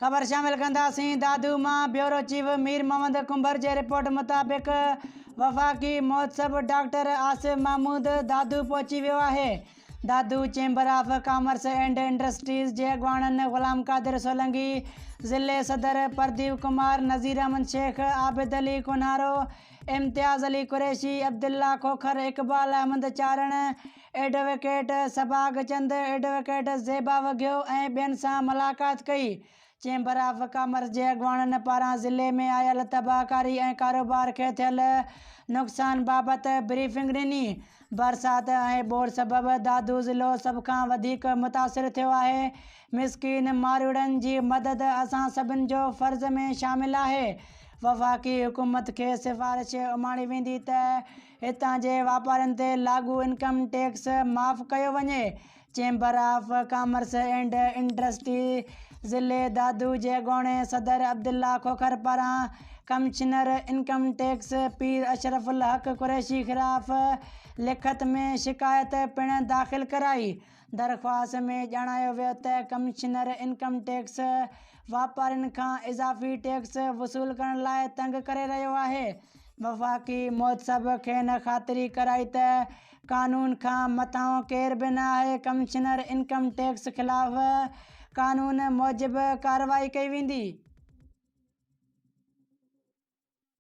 خبر شامل ڪنداسين دادو مان بيورو چيف مير محمد ڪنڀر جي رپورٽ مطابق وفاقي مهتسب ڊاڪٽر آصف محمود دادو پهچي ويو آهي Dadu chamber of commerce and industries جي اڳواڻن غلام قادر سولنگي ضلعي صدر پرديپ ڪمار نذير احمد شيخ عابد علي ڪونهارو امتياز علي قريشي، عبدالله کوکر، اقبال احمد چارڻ، ايڊووڪيٽ سڀاڳ چند، ايڊووڪيٽ زيبا وگهيو ۽ ٻين سان ملاقات ڪئي. چيمبر آف ڪامرس جي اڳواڻن پاران ضلعي ۾ آيل تباهڪاري ۽ ڪاروبار کي ٿيل نقصان بابت بريفنگ ڏني. برسات ۽ ٻوڏ سبب دادو ضلعو سڀ کان وڌيڪ متاثر ٿيو آهي. مسڪين مارئوڙن جي مدد اسان سڀن جو فرض ۾ شامل آهي، وفاقي حڪومت کي سفارش اماڻي ويندي ته هتان جي واپارين تي لاڳو انڪم ٽيڪس معاف ڪيو وڃي، chamber of commerce and industry ضلعي دادو جي اڳوڻي صدر عبدالله کوکر پاران commissioner income tax Pir Ashraf ul Haq Qureshi خلاف لکت ۾ شڪايت پڻ داخل ڪرائي. درخواست ۾ ڄاڻايو ويو ته ڪمشنر انڪم ٽيڪس واپارين کان اضافي ٽيڪس وصول ڪرڻ لاء تنگ ڪري رهيو آهي، وفاقي محتسب کين خاطري ڪرائي ته قانون کان مٿانهون ڪير به نه آهي، ڪمشنر انڪم ٽيڪس خلاف قانون موجب ڪارروائي ڪئي ويندي.